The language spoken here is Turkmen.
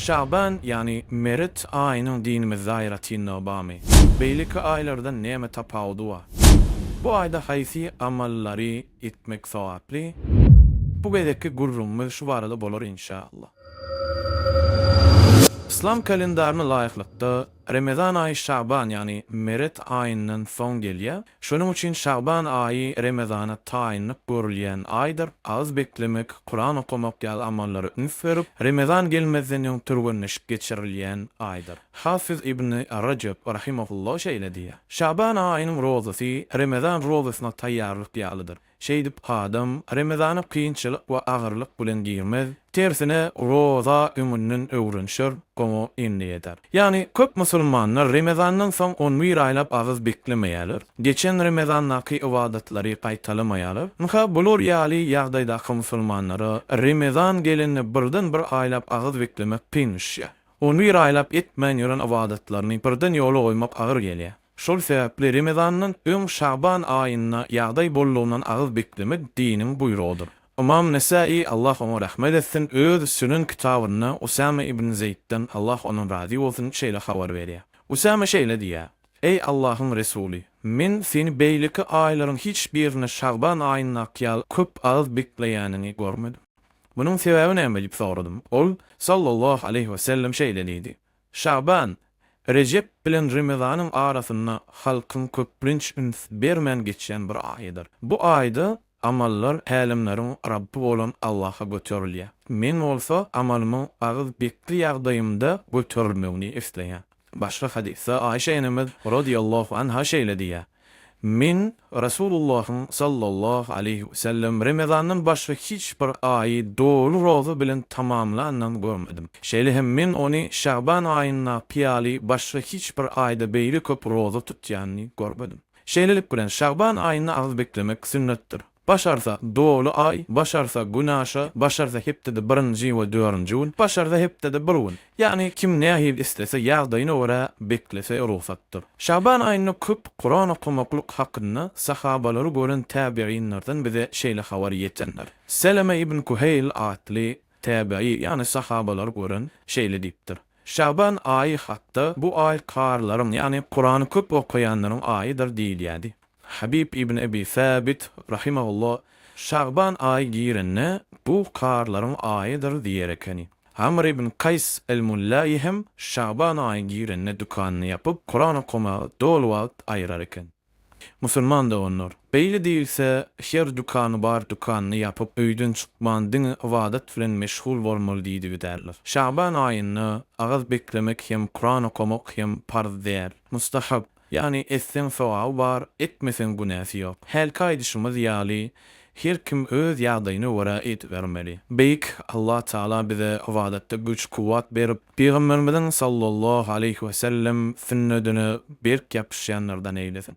Şaban, ýagny Meret aýynyň dinimizde aýratynlygy barmy? Beýleki aýlardan näme tapawudy bar? Bu aýda haýsy amallary etmek sogaply? Bu gezekki gürrüňimiz şu barada bolar inşallah. Yslam kalendaryna laýyklykda, Remezan aýy şaban, ýagny meret aýyndan soň gelýär. Şonuň üçin şaban aýy Remezana taýynlyk görülýän aýdyr. Agyz beklemek, Kuran okamak ýaly amallara üns berip, Remezan gelmezden öň türgenleşik geçirilýän aýdyr. Hafyz ibni Rejep rahimehullah şeýle diýýär, Şaban aýynyň rozasy Remezan rozasyna taýýarlyk ýalydyr. Şeýdip, adam Remezana kynçylyk we agyrlyk bilen girmez, tersine, roza öňünden öwrenişer, oňa endik eder. Ýagny, köp musulmanlar Remezandan soň on bir aýlap agyz beklemeýärler, geçen Remezandaky ybadatlary gaýtalamaýarlar. Ynha, bular ýaly ýagdaýdaky musulmanlara Remezan gelende birden-bir aýlap agyz beklemek kyn düşýär. On bir aýlap etmän ýören ybadatlaryny birden ýola goýmak agyr gelýär. Şol sebäpli Remezandan öň Şaban aýynda ýagdaý boldugyndan agyz beklemek diniň buýrugydyr. Ymam Nesaýy, Allah oňa rahmet etsin, öz Sünen kitabynda Usame ibn Zeýtden, Allah ondan razy bolsun, şeýle habar berýär. Usame şeýle diýýär, Eý Allahyň Resuly, men seni beýleki aýlaryň hiç birinde Şaban aýyndaky ýaly köp agyz bekleýäniňi görmedim. Munuň sebäbi näme diýip soradym. Ol, sallallahu aleýhi wesellem, şeýle diýdi, Şaban, Rejep bilen Remezanyň arasynda halkyň köplenç üns bermän geçýän bir aýydyr. Bu aýda amallar Älemleriň Rabby bolan Allaha göterilýär. Men bolsa amalymyň agyz bekli ýagdaýymda göterilmegini isleýän. Başga hadysda Aişe enemiz, rodiýallahu anha, şeýle diýýär. Men Resulullahyň sallallahu aleýhi wesellem remezandan başga hiç bir aýy doly roza bilen tamamlandan görmedim. Şeýle hem men ony şaban aýyndaky ýaly başga hiç bir aýda beýle köp roza tutýanyny görmedim. Şeýlelik bilen, şaban aýynda agyz beklemek sünnetdir. Başarsa, doly Aý, başarsa, Günaşa, başarsa hepdede birinji we dörünji gün, başarsa hepdede bir gün. Ýagny kim nähili islese, ýagdaýyna görä beklese rugsatdyr. Şaban aýynda köp Kuran okamaklyk hakynda sahabalary gören täbiginlerden bize şeýle habar ýetendir. Seleme ibn Kuheýl atly Täbeýi, ýagny sahabalar gören, şeýle diýipdir, Şaban aýy hakda, Bu aý karylaryň, ýagny Kurany köp okaýanlaryň aýydyr diýilýärdi. Habib ibn Ebi Säbit, rahimahullah, Şaban aýy girende, Bu karylaryň aýydyr diýer ekeni. Amr ibn Kaýs el-Mullaýy hem Şaban aýy girende dükanyny ýapyp, Kuran okamaga doly wagt aýyrar eken. Musulman doganlar, beýle diýilse, her dükany bar dükanyny ýapyp, öýden çykman diňe ybadat bilen meşgul bolmaly diýdi giderler. Şaban aýynda agyz beklemek hem Kuran okamak hem parz däl. Mustahap, ýagny etseň sogaby bar, etmeseň günäsi ýok. Hälki aýdyşymyz ýaly, Her kim öz ýagdaýyna görä edibermeli. Beýik Allah Tagala bize ybadatda güç, kuwwat berip, Pygamberimiziň sallallahu aleýhi we sellem sünnedine berk ýapyşýanlardan eýlesin.